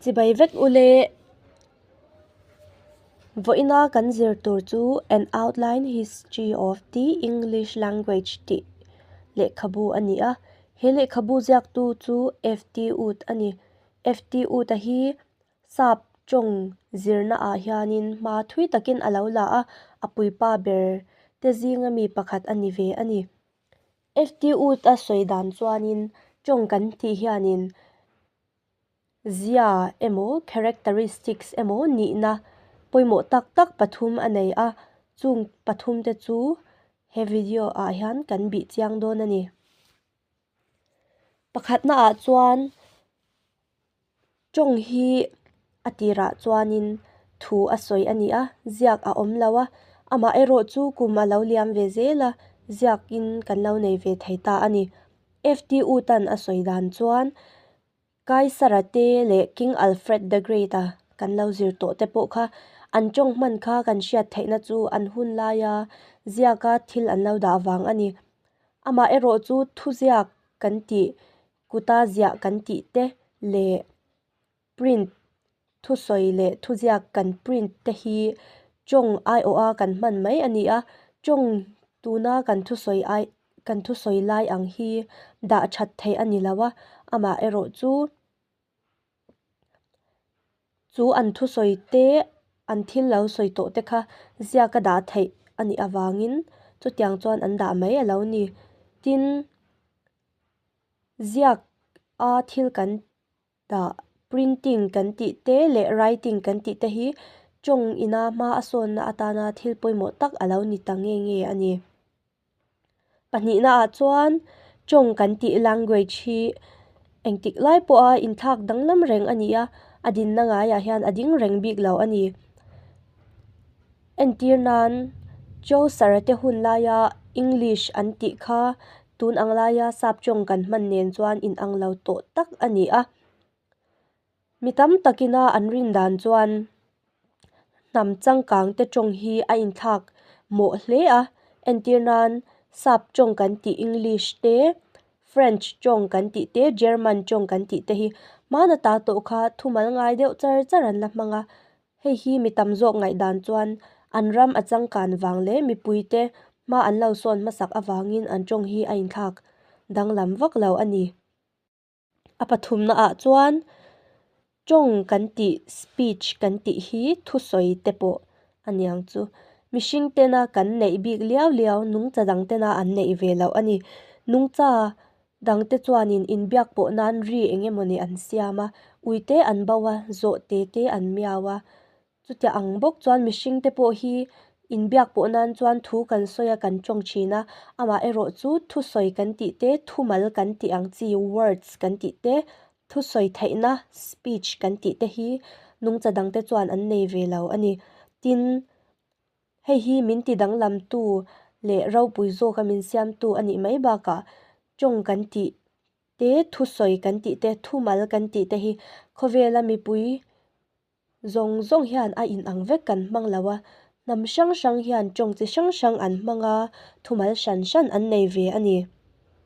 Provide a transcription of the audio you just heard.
Chibai vek u le, vawiina kan zir tur chu an outline history of the English language tih lehkhabu a ni a, he lehkhabu ziaktu chu F T Wood a ni. F T Wood hi sap tawng zirna ah hian in hma thui takin a lo la a, a puipa ber te zinga mi pakhat a ni ve a ni. FTUta sawi dan chuanin tawng kan tih hianin zia emaw characteristics emaw nihna pawimawh tak tak pathum a nei a, chung pathum te chu he video ah hian kan bih chiang dawn a ni. Pakhatnaah chuan Tawng hi a tirah chuanin thu a sawi a ni a, ziak a awm lo a, amah erawh chu kum a lo liam ve zel a, ziakin kan lo nei ve thei ta a ni. FTU tan a sawi dan chuan Kaisara te leh King Alfred the Great a kan lo zir tawh te pawh kha an tawng hman kha kan hriat theihna chu an hun lai a, ziaka thil an lo dah vang a ni. Amah erawh chu thuziak kan tih Kuta ziah kan tih te leh print thusawi leh thuziak kan print te hi tawng aiawha kan hman mai a ni a. Tawng tuna kan thusawi ai kan thusawi lai ang hi dah that theih a ni lo a, amaherawhchu. chu an thusawi te an thil lo sawi tawh te kha ziak a dah theih a nih avangin chutiang chuan an dah mai a lo ni tin ziak a thil kan dah printing kan tih te leh writing kan tih te hi tawng ina hma a sawn na atana thil pawimawh tak a lo ni ta nge nge a ni. Pahnihna ah chuan Chong kan tih language hi engtik lai pawha inthlak danglam reng a ni a, a dinna ngaiah hian a ding reng bik lo a ni. Entir nan Cho Sarate hun laia English an tih kha tun ang laia sap Chong kan hman nen chuan inang lo tawh tak a ni a. Mi tam tak ina an rin dan chuan hnam changkang te tawng hi a in thlak mawh hle a, entir nan sap tawng kan tih English te, French tawng kan tih te, German tawng kan tih te hi hmana ta tawh kha thumal ngai deuh char char an la hmang a, hei hi mi tam zawk ngaih dan chuan an ram a changkan vang leh mipui te hma an lo sawn hmasak avangin an tawng hi a in thlak danglam vak lo a ni. A pathumnaah chuan tawng kan tih speech kan tih hi thusawi te pawh a niang chu. Mihring tena kan neih bik liau liau nungcha dang tena an neih ve loh a ni. Nungcha dang te chuanin inbiak pawh nan ri eng emawni an siam a, uite an bauh a, zawh tete an miau a. Chutiah ang bawk chuan mihring te pawh hi inbiak pawh nan chuan thu kan sawi a kan tawng thin a, amah erawh chu thusawi kan tih te, thumal kan tih ang chi, words kan tih te, thusawi theihna, speech kan tih te hi nungcha dang te chuan an nei ve lo a ni. Tin, hei hi min ti danglamtu leh ropui zawk a min siamtu a nih mai bakah tawng kan tih te, thusawi kan tih te, thumal kan tih te hi khawvela mipui, zawng zawng hian a in ang vek kan hmang lo a, hnam hrang hrang hian tawng chi hrang hrang an hmang a, thumal hran hran an nei ve a ni.